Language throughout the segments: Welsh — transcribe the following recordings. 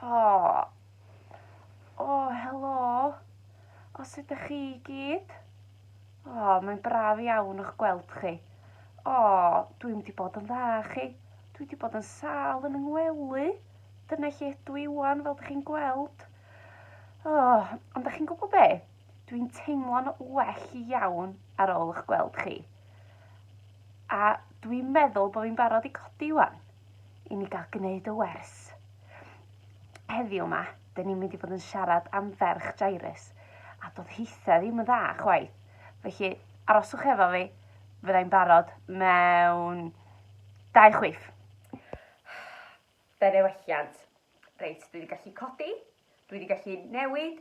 Oh. Oh, helo. O, sut ydych chi i gyd? O, oh, mae'n braf iawn o'ch gweld chi. O, oh, dwi'n wedi bod yn dda chi. Dwi wedi bod yn sal yn yngwelu. Dyna lle ydw i wan, fel ydych chi'n gweld. O, oh, ond ydych chi'n gwybod be? Dwi'n teimlo'n well iawn ar ôl eich gweld chi. A dwi'n meddwl bod fi'n barod i codi wan, i ni gael gwneud y wers. Heddiw yma, dyn ni'n mynd i fod yn siarad am ferch Jairus, a doedd hithau ddim yn dda chwaith. Felly, aroswch efo fi, fyddai'n barod mewn dau chwif. Fe newelliant. Reit, dwi wedi gallu codi, dwi wedi gallu newid,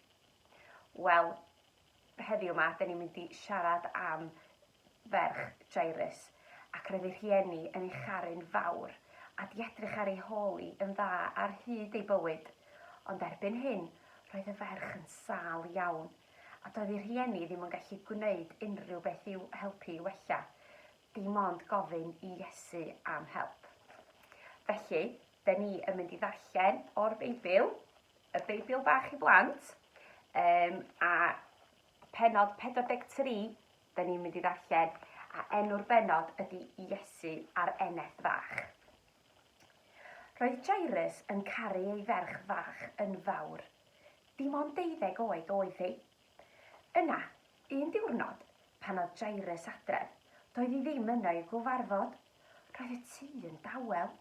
Wel, heddiw 'ma, 'dyn ni'n mynd i siarad am ferch Jairus, ac roedd ei rhieni yn ei charu'n fawr, a di edrych ar ei hôl i yn dda ar hyd ei bywyd. Ond erbyn hyn, roedd y ferch yn sâl iawn, a doedd ei rhieni ddim yn gallu gwneud unrhyw beth i'w helpu i wella, dim ond gofyn i Iesu am help. Felly, 'Da ni yn mynd i ddarllen o'r Beibl, y Beibl bach i blant, um, a penod 43, da ni'n mynd i ddarllen, a enw'r benod ydy Iesu a'r eneth fach. Roedd Jairus yn caru ei ferch fach yn fawr. Dim ond deuddeg oed oedd hi, Yna, un diwrnod, pan oedd Jairus adref, doedd hi ddim yno i'w gyfarfod. Roedd y tŷ yn dawel.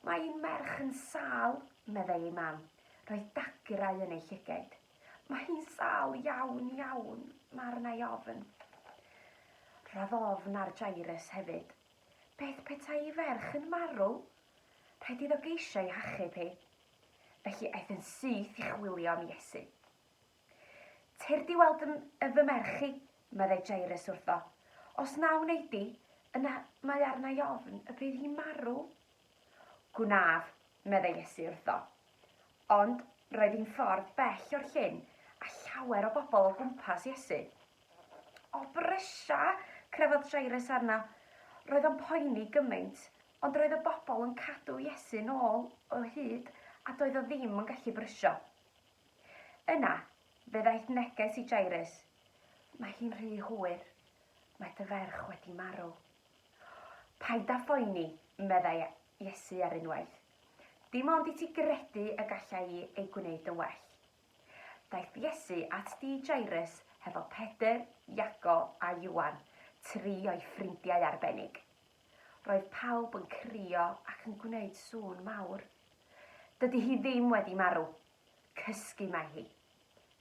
Mae ein merch yn sâl, meddai ei mam. Roedd dagrau yn ei llygaid. Mae hi'n sâl iawn, iawn, mae arna'i ofn. Roedd ofn ar Jairus hefyd. Beth petai ei ferch yn marw? Rhaid iddo geisio ei hachub hi. Felly aeth yn syth i chwilio am Iesu. Cer di weld fy, yy, fy merch i, meddai Jairus wrtho. Os na wnei di, yna mae arna i ofn y bydd hi'n marw. Gwnaf, meddai Iesu wrtho. Ond roedd hi'n ffordd bell o'r llyn a llawer o bobl o gwmpas Iesu. O brysia! crefodd Jairus arno. Roedd o'n poeni gymaint, ond roedd y bobl yn cadw Iesu'n ôl o hyd a doedd o ddim yn gallu brysio. Yna, fe ddaeth neges i Jairus, Mae hi'n rhy hwyr. Mae dy ferch wedi marw. Paid â phoeni, meddai Iesu ar unwaith. Dim ond i ti gredu y gallai i ei gwneud yn well. Daeth Iesu at dŷ Jairus hefo Pedr, Iago a Iwan, tri o'i ffrindiau arbennig. Roedd pawb yn crio ac yn gwneud sŵn mawr. Dydy hi ddim wedi marw, Cysgu mae hi,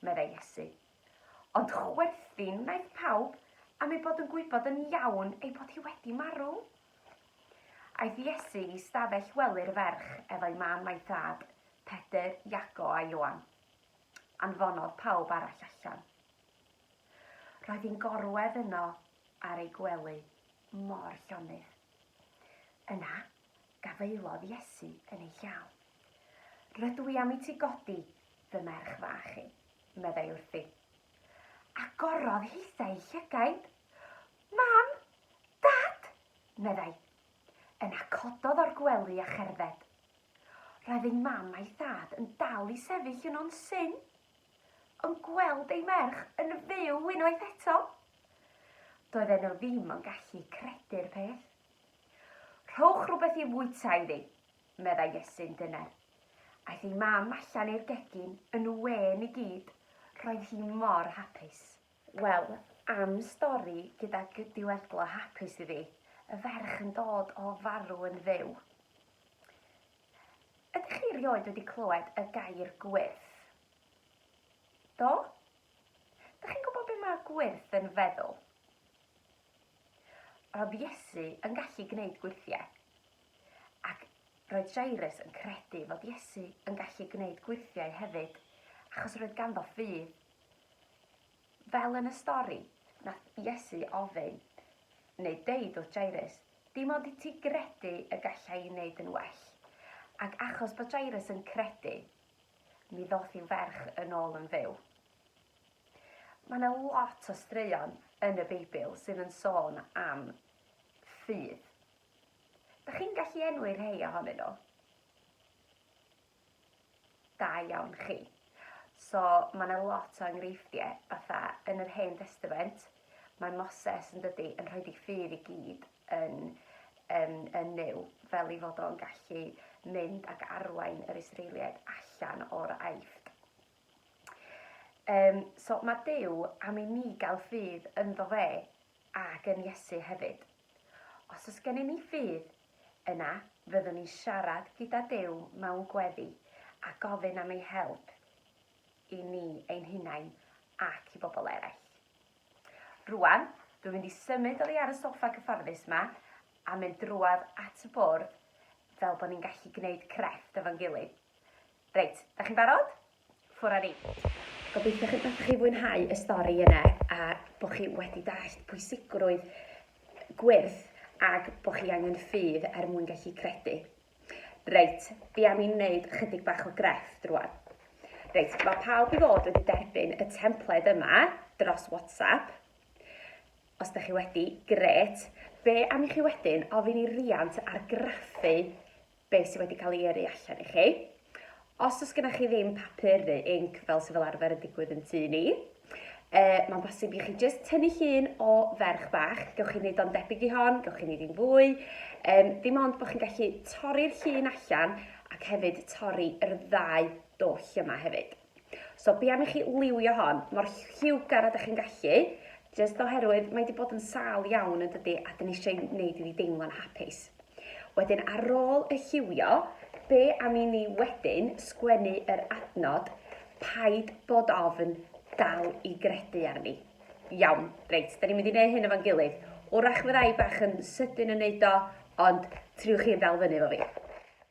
meddai Iesu. Ond chwerthin wnaeth pawb am ei bod yn gwybod yn iawn ei bod hi wedi marw. Aeth Iesu i stafell wely'r ferch efo'i mam a'i thad, Pedr, Iago a Ioan. Anfonodd pawb arall allan. Roedd hi'n gorwedd yno ar ei gwely, mor llonydd. Yna, Gafaelodd Iesu yn ei llaw. Rydw i am i ti godi fy merch fach i, meddai wrthi. Agorodd hithau ei llygaid. Mam! Dad! meddai. Yna cododd o'r gwely a cherdded. Roedd ei mam a'i thad yn dal i sefyll yno'n syn, yn gweld ei merch yn fyw unwaith eto. Doedden nhw ddim yn gallu credu'r peth. Rhowch rhywbeth i fwyta iddi, meddai Iesu'n dyner. Aeth ei mam allan i'r gegin yn wên i gyd, roedd hi mor hapus. Wel, am stori gyda gydiweddglo hapus iddi, y ferch yn dod o farw yn fyw. Ydych chi erioed wedi clywed y gair gwyrth? Do? Dych chi'n gwybod beth mae gwyrth yn feddwl? Roedd Iesu yn gallu gwneud gwyrthiau. Ac roedd Jairus yn credu fod Iesu yn gallu gwneud gwyrthiau hefyd, achos roedd ganddo ffydd. Fel yn y stori, nath Iesu ofyn, neu deud wrth Jairus, dim ond i ti gredu y galla i wneud yn well. Ac achos bod Jairus yn credu, mi ddoth i'w ferch yn ôl yn fyw. Mae 'na lot o straeon yn y Beibl sydd yn sôn am ffydd. Da chi'n gallu enwi rhai ohonyn nhw? Da iawn chi. So mae 'na lot o enghreifftiau fatha yn yr Hen Testament mae Moses yn dydi yn rhoi ei ffydd i gyd yn yn, yn Nuw fel ei fod o'n gallu mynd ac arwain yr Israeliaid allan o'r Aifft. Yym, so mae Duw am i ni gael ffydd ynddo fe ac yn Iesu hefyd. Os oes gennym ni ffydd, yna fyddwn ni'n siarad gyda Duw mewn gweddi a gofyn am ei help i ni ein hunain ac i bobl eraill. Rwan, dwi'n mynd i symud oddi ar y soffa cyfforddus yma a mynd drwad at y bwrdd fel bod ni'n gallu gwneud crefft efo'n gilydd. Reit, dach chi'n barod? Ffwr â ni. Gobeithio chi bod chi'n fwynhau y stori yna a bod chi wedi dallt pwysigrwydd gwyrth ac bod chi angen ffydd er mwyn gallu credu. Reit, fi am i ni wneud chydig bach o grefft rwan. Reit, mae pawb i fod wedi derbyn y templed yma dros WhatsApp. Os da chi wedi, grêt. Fe am i chi wedyn ofyn i Riant argraffu beth sydd wedi cael ei yrru allan i chi. Os does gennych chi ddim papur neu inc fel sydd fel arfer yn digwydd yn tŷ ni, e, mae'n bosib i chi jyst tynnu llun o ferch bach. Gewch chi wneud o'n debyg i hon, gewch chi wneud i'n fwy. E, dim ond bod chi'n gallu torri'r llun allan ac hefyd torri yr ddau doll yma hefyd. So be am i chi liwio hon mor lliwgar a dych chi'n gallu, jyst oherwydd mae wedi bod yn sâl iawn yn dydy a dyn ni eisiau gwneud iddi deimlo'n hapus. Wedyn ar ôl y lliwio, be am i ni wedyn sgwennu yr adnod paid bod ofn dal i gredu arni. Iawn, reit, da ni'n mynd i wneud hyn efo'n gilydd. Wrach fydda i bach yn sydyn yn wneud o, ond triwch chi yn dal fyny efo fi.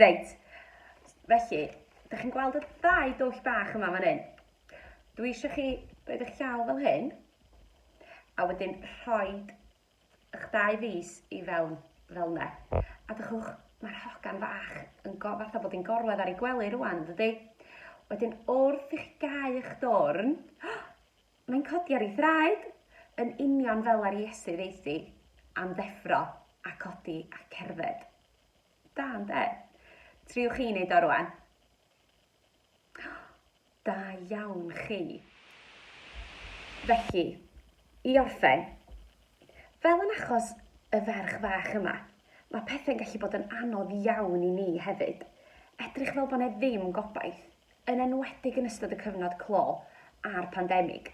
Reit, felly, da chi'n gweld y ddau dwll bach yma fan hyn? Dwi eisiau chi roed eich llaw fel hyn, a wedyn rhoi eich dau fus i fewn fel yna. A dychwch, mae'r hogan fach yn go, fatha bod hi'n gorwedd ar ei gwely rwan, dydy? Wedyn, wrth i chi gau eich dorn, Mae'n codi ar ei thraed, yn union fel ar Iesu ddeuthi, am ddeffro, a codi, a cerdded. Da, ynde? Triwch chi wneud o rwan. Da iawn chi. Felly, i orffen, fel yn achos y ferch fach yma, mae pethau'n gallu bod yn anodd iawn i ni hefyd. Edrych fel bod 'na ddim gobaith. yn enwedig yn ystod y cyfnod clo a'r pandemig.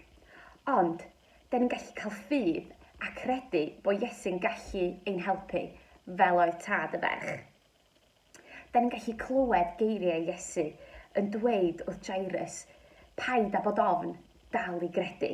Ond, da ni'n gallu cael ffydd a credu bod Iesu'n gallu ein helpu, fel oedd tad y ferch. Da ni'n gallu clywed geiriau Iesu yn dweud wrth Jairus, Paid â bod ofn, dal i gredu.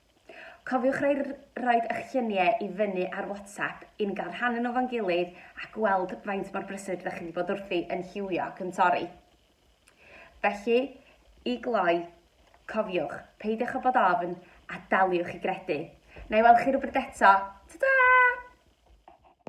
Cofiwch roi roed eich lluniau i fyny ar WhatsApp i ni gael rhannu nhw 'fo'n gilydd a gweld faint mor brysur rydych chi wedi bod wrthi yn lliwio ac yn torri. Felly, i gloi, cofiwch, peidiwch â bod ofn a daliwch i gredu. Na i weld chi rywbryd eto. Ta-ta!